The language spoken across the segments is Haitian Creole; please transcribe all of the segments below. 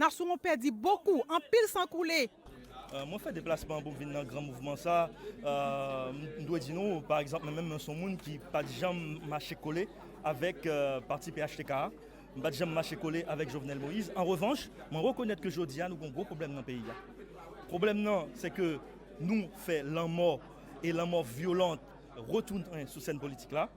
Nasyon an pèdi bokou, anpil san koule. Mwen fè deplasman pou m vin nan gran mouvman sa a. M dwe di nou, pa egzanp, mwen menm mwen s on moun ki pa t janm mache kole avèk pati phtk a. M pa t janm mache kole avèk Jovenel Moïse. An revanch, mwen rekonèt ke jodi a nou gen yon gwo pwoblèm nan peyi a. Pwoblèm nan se ke nou fè lanmò e lanmò vyolant retounen sou sèn politik la.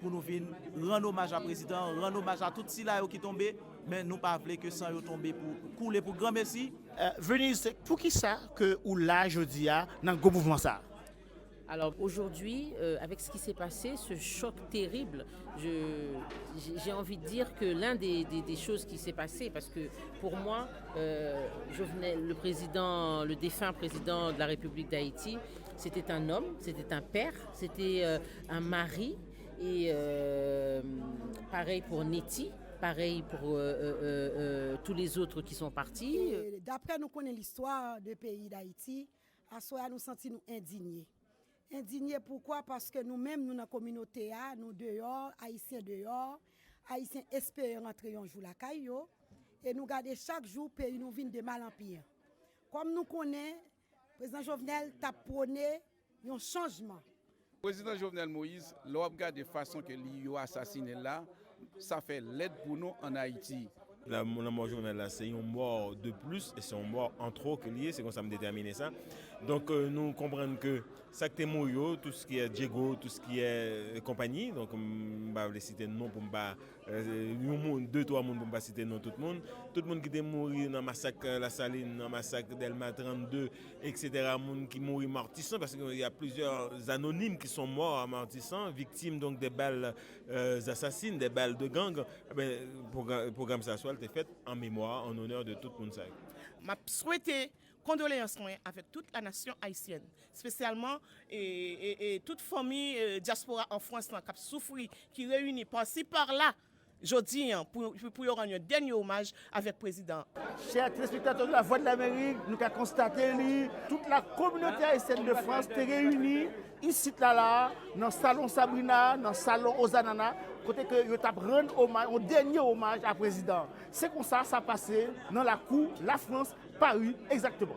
pou nou vin rann omaj a prezidan an, rann omaj a tout sila yo ki tonbe, men nou pa vle ke san yo tonbe pou koule pou granmesi. Venise, poukisa ke ou la jodi a nan gwo mouvman sa a? Alors, aujourd'hui, avec ce qui s'est passé, ce choc terrible, j'ai envie de dire que l'un des choses qui s'est passé, parce que pour moi, Jovenel, le président, le défunt président de la République d'Haïti, c'était un homme, c'était un père, Se te an Mari e parèy pou Neti, parèy pou tou le zotre ki son pati. E daprè nou konnen listwa de peyi Dayiti, aswè a nou santi nou endinye. Endinye poukwa? Paske nou menm nou nan kominote a, nou deyò, Ayisyen deyò, Ayisyen espere rantre yon jou lakay yo, e nou gade chak jou peyi nou vin de mal an pi. Kòm nou konnen Prezidan Jovenel tap pwone yon chanjman. Prezidan Jovenel Moïse lè wap gade fason ke li yo asasinel la sa fè lèd pou nou an Ayiti. Lanmò Jovenel la se yon mò de plis e se yon mò an twò ke li ye se konsa m detèmine sa. Donk nou konprann ke sak te mouri yo tou skiè Diego tou skiè konpanyi donk m pa vle site non pou m pa Yon moun, de twa moun pou m pa site non tout moun. Tout moun ki te mouri nan masak Lasalin, nan masak Dèlma 32, eksetera, moun ki mouri Matisan, paske gen yon plizyè anonim ki son mò a Matisan, viktim donk de bal zasasin, de bal de gang, enben pwogram sa swa l te fèt an memwa, an onè de tout moun sa yo. M ap swete Kondoleyans mwen avèk tout la nasyon ayisyèn, spesyalman tout fanmi dyaspora an Frans lan kap soufri, ki reyini pasi parla jodi an pou yo rann yon dènye omaj avèk prezidan. Chè telespektatè Lavwadlamerik, nou ka konstate li, tout la kominote ayisyèn de Frans te reyini Isit la la a, nan Salon Sabrina a, nan Salon Ozanana, kote ke yo tap rann omaj, yon dènye omaj a prezidan an. Se konsa sa pase nan lakou Lafrans, Pari, egzakteman.